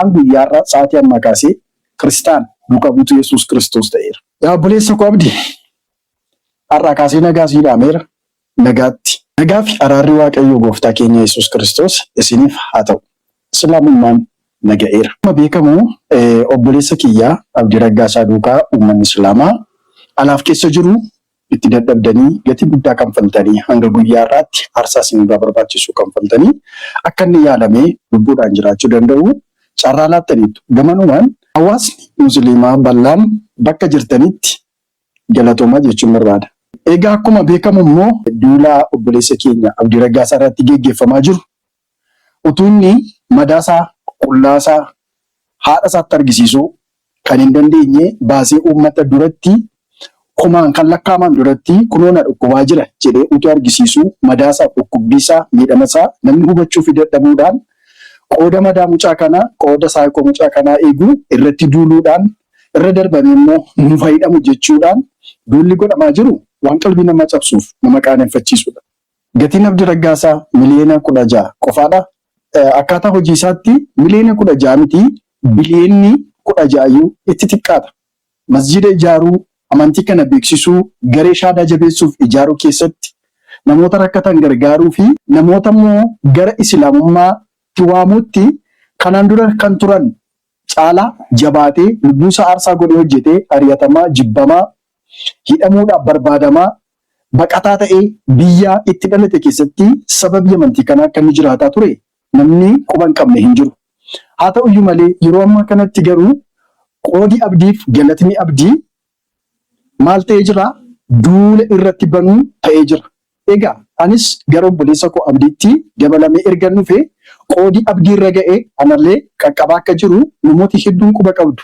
An guyyaa har'aa sa'aatii ammaa kaasee Kiristaana, duuka buutuu Yesuus Kiristoos ta'eera. Yaa obboleessa koo Abdi, har'aa kaasee nagaa sii dhaameera. Nagaatti. Nagaa fi araarri Waaqayyoo Gooftaa keenya Yesuus Kiristoos isiniif haa ta'u. Islaamummaan na ga'eera. Akkuma beekamu obboleessa kiyya Abdii Raggaasaa duukaa uummanni Islaamaa alaaf keessa jiru Itti dadhabdanii, gatii guddaa kanfaltanii, hanga guyyaa har'aatti aarsaa isin irraa barbaachisu kanfaltanii akka inni yaalamee lubbuudhaan jiraachuu danda'u carraa laattaniittu. Gamanumaan hawaasni Musiliimaa bal'aan bakka jirtanitti galatoomaa jechuun barbaada. Egaa akkuma beekamu immoo duula obboleessa keenya Abdii Raggaasaa irratti geggeeffamaa jiru Utuu inni madaa isaa, qullaa isaa, haadha isaatti argisiisuu kan hin dandeenye baasee uummata duratti, kumaan kan lakkaa'aman duratti kunoo na dhukkubaa jira jedhee utuu argisiisuu madaa isaaf dhukkubbii isaa, miidhama isaa namni hubachuufii dadhabuudhaan qooda madaa mucaa kanaa, qooda psycho mucaa kanaa eegu irratti duuluudhaan irra darbamee immoo nuuf haa hidhamu jechuudhaan duulli godhamaa jiru waan qalbii namaa cabsuuf nama qaaneffachiisudha. Gatiin Abdi Raggaasaa miliyeena 16 qofaadha. Akkaataa hojii isaatti miliyeena 16 miti biliyeenni 16 iyyuu itti xiqqaata. Masjiida ijaaruu, amantii kana beeksisuu, garee shaadaa jabeessuuf ijaaruu keessatti, namoota rakkatan gargaaruu fi namoota immoo gara Isilaamummaa tti waamuutti kanaan dura kan turan caalaa jabaatee lubbuu isaa aarsaa godhee hojjetee ari'atamaa, jibbamaa, hidhamuudhaaf barbaadamaa, baqataa ta'ee biyyaa itti dhalate keessatti sababii amantii kanaa akka inni jiraataa ture namni quba hin qabne hin jiru. Haa ta'u iyyuu malee yeroo ammaa kanatti garuu qoodi abdiif galatni abdii maal ta'ee jira? Duula irratti banuu ta'ee jira. Egaa anis gara obboleessa koo Abdiitti dabalamee ergan dhufe, qoodi Abdii irra ga'e anallee qaqqabaa akka jiru namooti hedduun quba qabdu.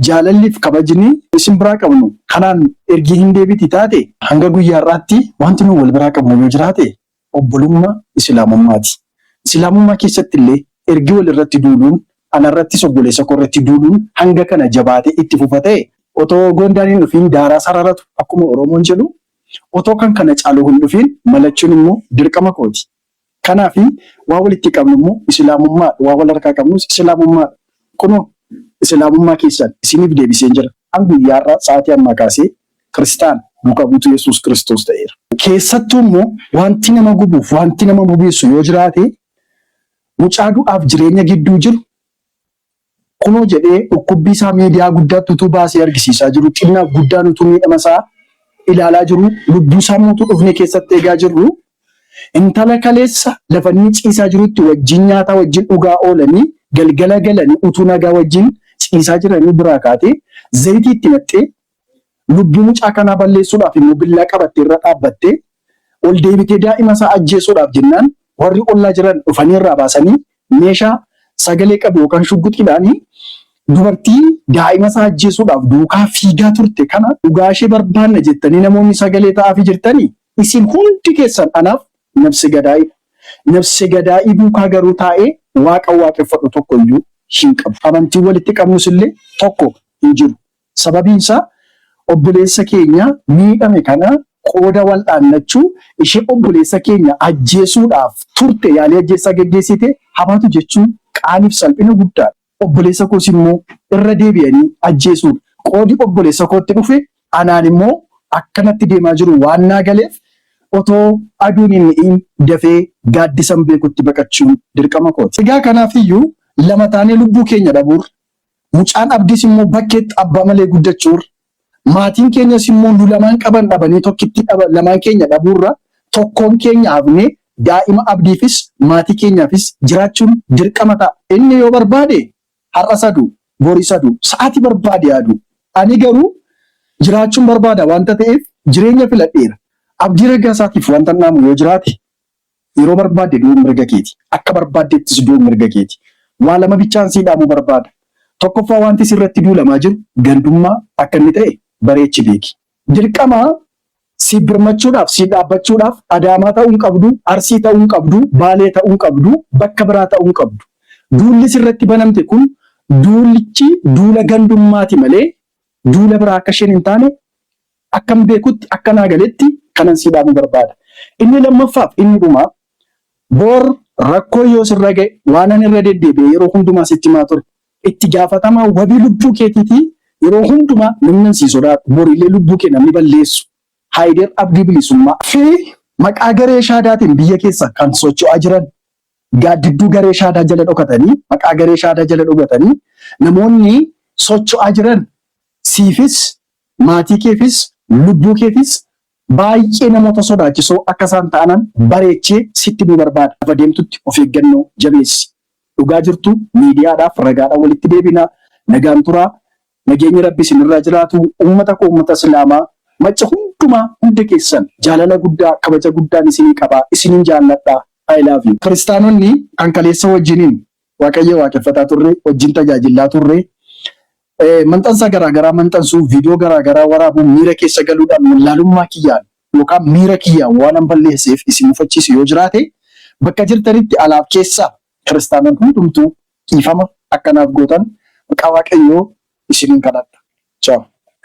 Jaalalli fi kabajni isin biraa qabnu kanaan ergii hin deebiti taate? Hanga guyyaa har'aatti wanti nuyi wal biraa qabnu yoo jiraate obbolummaa Isilaamummaati. Isilaamummaa keessatti illee ergi wal irratti duuluun, ana irrattis obboleessa koo irratti duuluun hanga kana jabaatee itti fufa ta'e, otoo goondaan hin dhufiin daaraa sararatu akkuma Oromoon jedhu Otoo kan kana caalu hin dhufiin malachuun immoo dirqama kooti. Kanaafi waan walitti qabnu immoo Isilaamummaadha. Waan wal harkaa qabnus Isilaamummaadha. Kunoo Isilaamummaa keessan isiniif deebiseen jira. An guyyaa har'aa sa'aatii ammaa kaasee Kiristaana, duuka buutuu Yesuus Kiristoos ta'eera. Keessattuu immoo waanti nama gubuuf waanti nama bobeessu yoo jiraate mucaa du'aaf jireenya gidduu jiru Kunoo jedhee dhukkubbii isaa miidiyaa guddaatti utuu baasee argisiisaa jiruu, xinnaaf guddaan utuu miidhama isaa ilaalaa jiruu, lubbuu isaa immoo utuu dhufnee keessatti eegaa jirruu, intala kaleessa lafa inni ciisaa jirutti wajjin nyaataa wajjin dhugaa oolanii galgala galanii utuu nagaa wajjin ciisaa jiranii biraa kaatee zayitii itti naqxee Lubbuu mucaa kanaa balleessuudhaaf immoo billaa qabattee irra dhaabbattee, ol deebitee daa'ima isaa ajjeesuudhaaf jennaan warri ollaa jiran dhufanii irraa baasanii meeshaa sagalee qabu yookaan shugguxiidhaan dubartii daa'ima isaa ajjeesuudhaaf duukaa fiigaa turte kana dhugaa ishee barbaanna jettanii namoonni sagalee ta'aafii jirtanii isin hundi keessan anaaf nabse gadaa'idha. Nabse gadaa'ii duukaa garuu taa'ee waaqa waaqeffadhu tokko iyyuu hin qabu. Amantiin walitti qabnus illee tokko hin jiru. Sababiin isaa obboleessa keenya miidhame kana qooda wal'aannachuu ishee obboleessa keenya ajjeesuudhaaf turte yaalii ajjeechaa geggeessite haa baatu jechuun qaanii fi salphina guddaa dha. Obboleessa koos immoo irra deebi'anii ajjeesuun qoodi obboleessa kootti dhufe anaan immoo akka natti deemaa jiru waan naa galeef otoo aduun hin dhi'iin dafee gaaddisan beekutti baqachuun dirqama koo ti. Egaa kanaaf iyyuu lama taanee lubbuu keenya dhabuurra Mucaan Abdiis immoo bakkeetti abbaa malee guddachuurra, maatiin keenyas immoo nu lamaan qaban dhabanii tokkittii dhaba, lamaan keenya dhabuurra tokkoon keenya hafnee daa'ima Abdiifis maatii keenyaafis jiraachuun dirqama ta'a. Inni yoo barbaade har'as haa du'u, boris haa du'u, sa'aatii barbaade haa du'u. Ani garuu jiraachuun barbaada waanta ta'eef jireenya filadheera. Abdii Raggaasaatiif waantan dhaamu yoo jiraate Yeroo barbaadde du'uun mirga keeti. Akka barbaaddeettis du'uun mirga keeti. Waa lama bichaan sii dhaamuu barbaada. Tokkoffaa waanti si irratti duulamaa jiru gandummaa akka inni ta'e bareechi beeki. Dirqama siif birmachuudhaaf, siif dhaabbachuudhaaf Adaamaa ta'uu hin qabdu, Arsii ta'uu hin qabdu, Baalee ta'uu hin qabdu, bakka biraa ta'uu hin qabdu. Duulli si irratti banamte kun duulichi duula gandummaati malee duula biraa akka isheen hin taane Akkan beekutti, akka naa galetti kanan sii dhaamu barbaada. Inni lammaffaaf inni dhumaa, bor rakkoon yoo sirra ga'e, waanan irra deddeebi'ee yeroo hundumaa sitti himaa ture, itti gaafatamaa wabii lubbuu keetiitii yeroo hundumaa namnan sii sodaadhu, borillee lubbuu kee namni balleessu, Haayider Abdii Bilisummaa, fi maqaa garee Shaadaatiin biyya keessa kan socho'aa jiran, gaaddidduu garee Shaadaa jala dhokatanii, maqaa garee Shaadaa jala dhogatanii namoonni socho'aa jiran siifis Maatii keefis, lubbuu keefis baay'ee namoota sodaachisoo akka isaan ta'anan bareechee sitti himuu barbaada. Lafa deemtutti of eeggannoo jabeessi. Dhugaa jirtu miidiyaadhaaf ragaadhaan walitti deebina. Nagaan turaa. Nageenyi Rabbi isin irraa jiraatu. Ummata koo ummata Islaamaa macca hundumaa hunda keessan jaalala guddaa kabaja guddaan isinii qaba. Isinin jaalladha. I love you. Kiristaanonni kan kaleessa wajjinin Waaqayyo waaqeffataa turre, wajjin tajaajillaa turre. Maxxansa garaa garaa maxxansuu, viidiyoo garaa garaa waraabuu, miira keessa galuudhaan wallaalummaa kiyyaan yookaan miira kiyyaan waanan balleesseef isin mufachiise yoo jiraate, bakka jirtanitti alaaf keessaa kiristaanaan hundumtuu dhiifama akka naaf gootan maqaa Waaqayyoo isiniin kadhadha. Ciao.